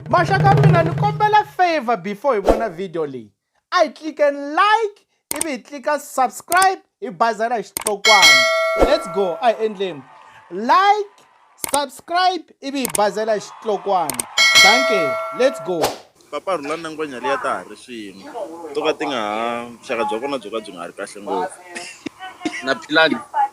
maxaka mina ni kombela favor before hi vona video leyi a hi tliken like ivi hi tlika subscribe hi bazela hi xitlokwana let's go a hi endleni like subscribe ivi hi bazela hi xitlokwana danke let's go papa rhula na ngwenya liya ta ha ri swin'we to ka ti nga ha vuxaka bya vona byo ka byi nga ha ri kahle ngopfu na philani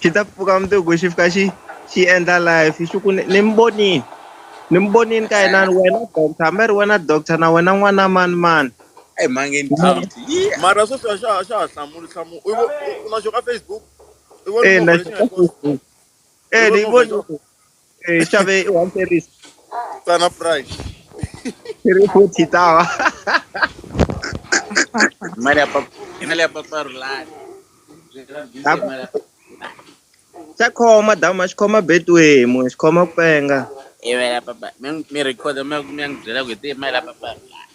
xi ta pfuka mundzuku xi fika xi xi endla life xi ku ni mi vonile ni mi vonile ka yinani wena doctor hambi ri wena doctor na wena n'wana mani mani eyi mhangeni mara sweswi a xa ha xa ha hlamuli hlamuli u na xo ka facebook i vona lexi nga kona e ni vona eh, xave i one series tsana price ri futhi tawa mali ya papa mali ya papa rulani xa khoma dama xi khoma betway mo xi khoma ku penga i mali ya papa mi mi record mi mi ya ngi byela ku hi ti mali ya papa rulani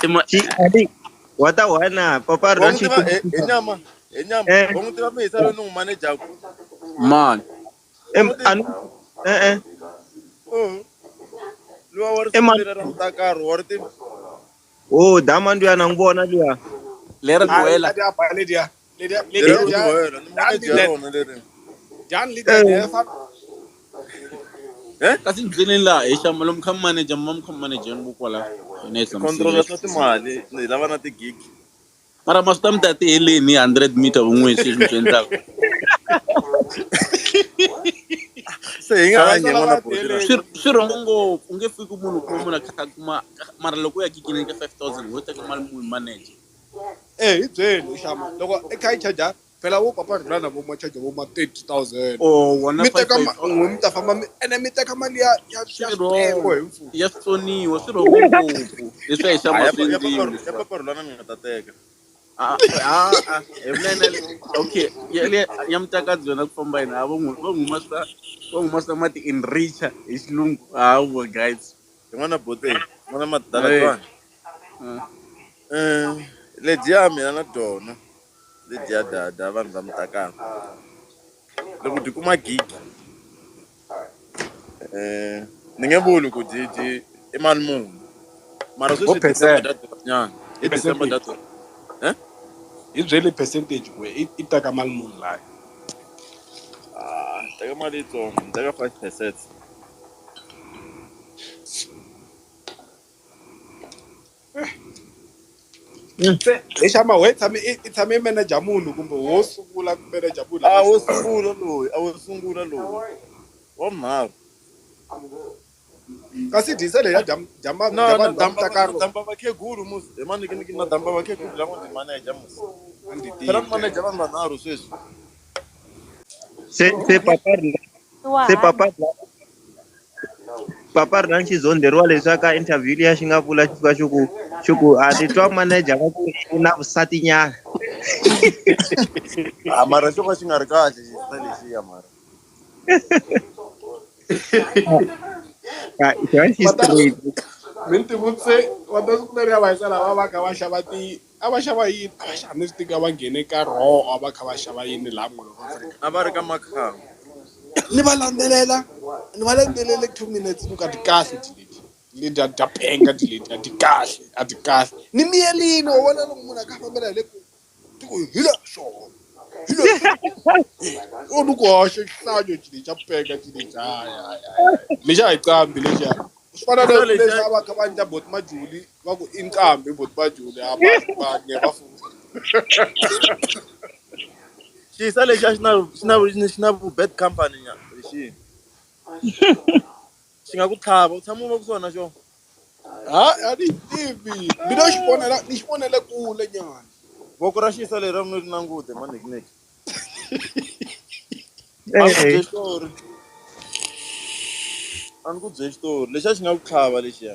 Tima- Xi- Ali, wa ta wena papa wa ra n'wi xi tiva hi hi nyama hi nyama Eh. wa n'wi tiva mihisa loyi ni n'wi manejaku man Em, a ni- eh, eh. luwa wa ri Eh, man. sungulile ra mutakaro wa ri tiva oh dama nduya na n'wi vona luya leri duwela Hadi apa lady ya. Ni da ni da Jerome ni ja boyela, ni dan mone ni da Jerome lere. dan ni da Eh, Yes. Eh? kasi ndleleni laha hi xama lomu kha manager mi va mi kha manager ni kokwala hina hi Controller hlamusela swa timali, ni lava na tigig. mara ma swi ta mi ta ti heleni hi 100 meter vun'wini sweswi mi swi endlaka Se hi nga Xana hanyi n'wana lava buti la. tele- Swi- swi rhongo ngopfu u nge fiki munhu kuma munhu a kha a kuma mara loko u ya kikineni ka 5000 ho teka mali muni manager Eh hi byeli u xama loko i kha i charger phela wo papa rhula na vo ma charger vo ma 30000 Oh, wona mi teka ma- 5,000. n'we mi ta famba mi ene mi teka mali ya ya ya Swi switeko wrong. hi mfumo ya switsoniwa swi rhongo ngopfu leswi a hi xama swi endliwi leswi va- rhulana mi nga ta teka Ah, ah, ah, hi vunene okay ya le ya mutakadzi yona ku famba yini ha va n'wi va n'wi humasa va n'wi humasa mati in richa hi xilungu hawa guys yin'wana bote n'wana madala twana um eh, ledyiya mina na dyona ledyiya dada vanhu va mi takaka loko dyi kuma gigi um ni nge vuli ku dyi dyi i mali muni mara sweswi december data nyana i december data um hi byeli percentage ku i teka mali muni layo ah, teka mali yitsongo ni teka five percent se hi xa mawe tshame i i tshame i manager munhu kumbe wo sungula ku manager munhu a wo sungula loyi a wo sungula loyi wa mharu kasi disa leyi ya dya dya ma- na dya na vanhu va damba mutakaro na damba vakhegulu mus hi manikiniki na damba vakhegulu lama ni manager mus a ndzi phela ni tivi manager vanhu vanharhu sweswi se se papa ri nga se papa papa ri na ni xizondheriwa leswi a ka interview liya xi nga vula xi fika xi ku xi ku a ni twa manager va ku u na vusati nyana a ah, mara xo ka xi nga ri kahle xisa lexiya mara mi ntivutse va ta swi kumeriwa va hisela va va kha va xava ti A va xava yini? A va xava ni swi tiva va nghene ka roho a va kha va xava yini laha molo va fanele a va ri ka makhamba ni va landzelela ni va landzelele two minutes ni ku a ti kahle ti leti leti a ta penga ti leti a ti kahle a ti kahle ni miyerini wa vona loko munhu a kha a fambela hi le ku ti ku hi la swona hi la swona o ni ku hoxe xihlanyo ti leti a penga ti leti hayi hayi hayi lexi a hi qambi lexiya swi fana na leswi a va kha va endla boti majuli va ku i nqambi boti majuli a va va nye va fuwa xisa lexi a xi na xi na xi na vu bad company nya hi xi xi nga ku tlhava u tshama u va ku swona xo ha a ni yi tivi mina xi vonela ni xi vonele kule nyana voko ra xisa leri a ku nge ri na ngute manekineki a ni ku byeli xitori a ni ku byeli xitori lexiya xi nga ku tlhava lexiya